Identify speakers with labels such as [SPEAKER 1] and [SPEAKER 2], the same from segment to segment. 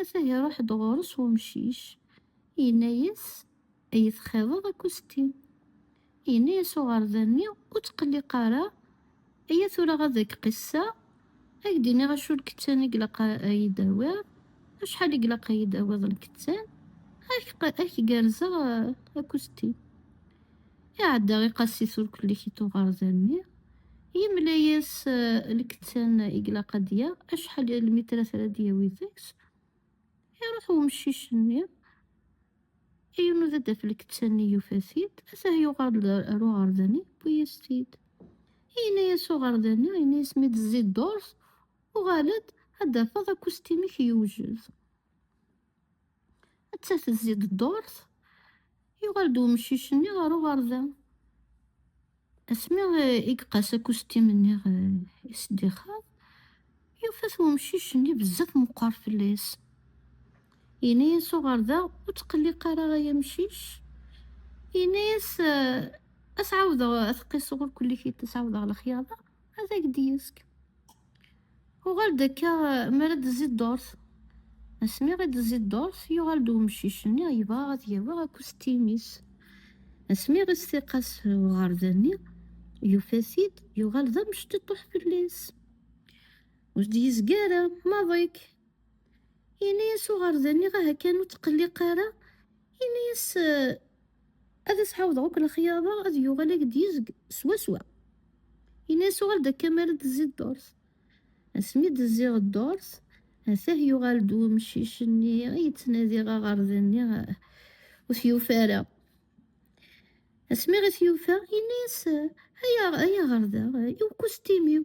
[SPEAKER 1] Ata iruḥ-d ɣur-s wemcic, yenna-yas, Ad yi-txiḍeḍ akusti? Yenna-yas uɣerda-nni, Ur ttqelliq ara, aya tura ad ak-qisseɣ, ad ak-d-iniɣ acu n lkettan i ilaq ad yi-d-tawiḍ, acḥal i ilaq ad yi-d-tawiḍ n lkettan, ad ak-gerrzeɣ akusti. Iɛedda iqassis ur kellik i tuɣerza-nni, yemla-yas eh, lkettan i ilaq ad yaɣ, acḥal n lmitrat ara d-yawi deg-s. Iruḥ umcic-nni, yunud ad d-af lkettan-nni yufa-t-id, atah yuɣal-d ar uɣerda-nni, yewwi-yas-t-id. Yenna-yas uɣerda-nni, yenna-yas mi d-tezzi ddurt, uɣal-d ad d-tafeḍ akustim-ik yewjed. atta tezzi-d ddurt yuɣal-d umcic-nni ɣer uɣerda asmi i iqas akustim-nni i s-d-ixaḍ yufa-t umcic-nni bezzaf meqqer fell-as yenna-yas uɣerda ur tqelliq ara ay amcic yenna-yas ad s-ɛawdeɣ ad t-qiseɣ ur kulli tiṭ ad s-ɛawdeɣ lexyaḍa ad ak-d-yezg Uɣal-d akka mi ara d-tezzi ddurt. Asmi i d-tezzi ddurt, yuɣal-d umcic-nni yebɣa ad yawi akustim-is. Asmi i s-tiqas uɣerda-nni, yufa-t-id yuɣal d amectiṭuḥ fell-as. Ur d-yezgi ara maḍi-k. Yenna-yas uɣerda-nni, aha kan ur tqelliq ara. Yenna-yas, Ad as-ɛawdeɣ akk lexyara ad yuɣal ak-d yezg swaswa. Yenna-as uɣal-d akka mi ara d-tezzi ddurt. Asmi d-zziɣ ddurt, atah yuɣal-d wemcic-nni yettnadiɣ aɣerday-nni ur t-yufi ara. Asmi i t-yufa, yenna-as, Ay aɣerday, i ukustimew!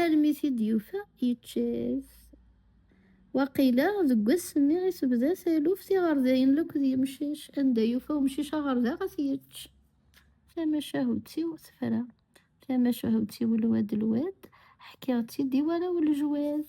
[SPEAKER 1] Armi t-id-yufa yečča-t. Waqila deg wass-nni i tebda taluft iɣerdayen lakk d yemcic, anda yufa umcic aɣerdaɣ ad t-yečč. Tamacahut-iw tefra, tamacahut-iw lwad lwad, ḥkiɣ-tt-id i warraw lejwad.